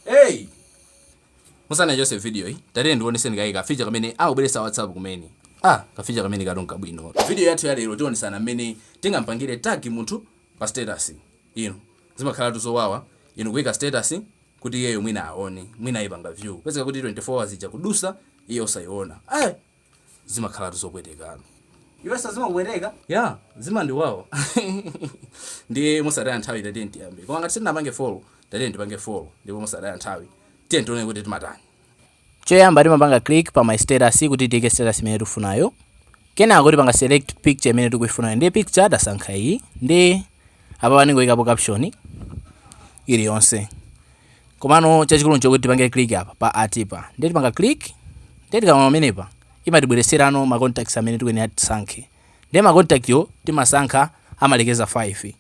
hey musanachoke video yi tatiyeni ndiwoneseni kaye ka feature kamene abweresa a whatsapp kumene ah ka feature kamenekatu nkabwino video yathu ya lero tiwonesana mmene tingampangire tag munthu pa status inu zimakhalatu zowawa inu nkuika status kuti iyeyo mwina aone mwina ayipanga view pezeka kuti 24 hours ikudusa iye osaiona eh zimakhalatu zopwetekatu. Iwenso zimakupweteka? Yeah, zimandiwawa. Ndiye mosataya nthawi tatiyeni tiyambe. Koma ngati sitinapange follow, tatiyeni tipange follow. Ndipo mosataya nthawi. Tiyeni tione kuti timatani. Choyamba timapanga click pa my status kuti tiike status imene tifunayo. Kenako tipanga select picture imene tukuifunayo. Ndiye picture tasankha iyi. Ndiye Apapa ndingoikapo caption iliyonse. Komano chachikulu nchokuti tipange click apa pa at pa. Ndiye tipanga click. Ndiye tikaima pamenepa imatibweretserano ma contacts amene tikuyenera tisankhe. Ndiye ma contact yo timasankha amalekeza 5.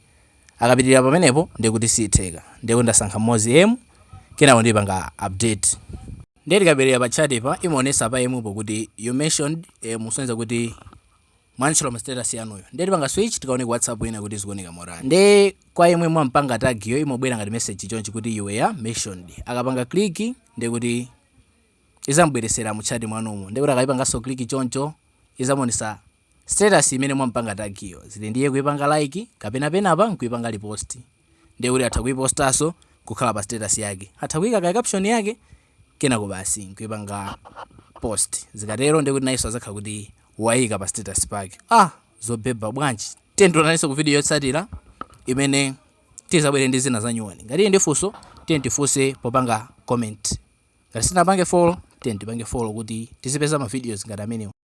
Akapitirira pamenepo ndiye kuti sitheka. Ndiye kuti ndasankha mmodzi M kenako ndipanga update. Ndiye tikabwerera pa chat pa imaonesa pa M po kuti you mentioned M kusonyeza kuti mwamtchula mu status yanuyo nde tipanga switch tikaone ku whatsapp ina kuti zikuoneka motani nde kwa yemwe mwampanga tag yo imobwera ngati message chonchi kuti you were mentioned akapanga click nde kuti izamubweresera mu chat mwanumo nde kuti akaipanganso click choncho izamuonesa status imene mwampanga tag yo zili ndiye kuipanga like kapena penapa nkuipanga repost ndiye kuti atha kuipostanso kukhala pa status yake atha kuika ka caption yake kenako basi nkuipanga post zikatero ndiye kuti nayenso azakhala kuti waika pa status pake ah zobhebha bwanji tiyeni tionanenso ku video yotsatira imene tizabwere ndi zina za nyuwani ngati uli ndi funso tiyeni tifunse popanga comment ngati simunapange follow tiyeni tipange follow kuti tizipeza ma videos ngati amenewa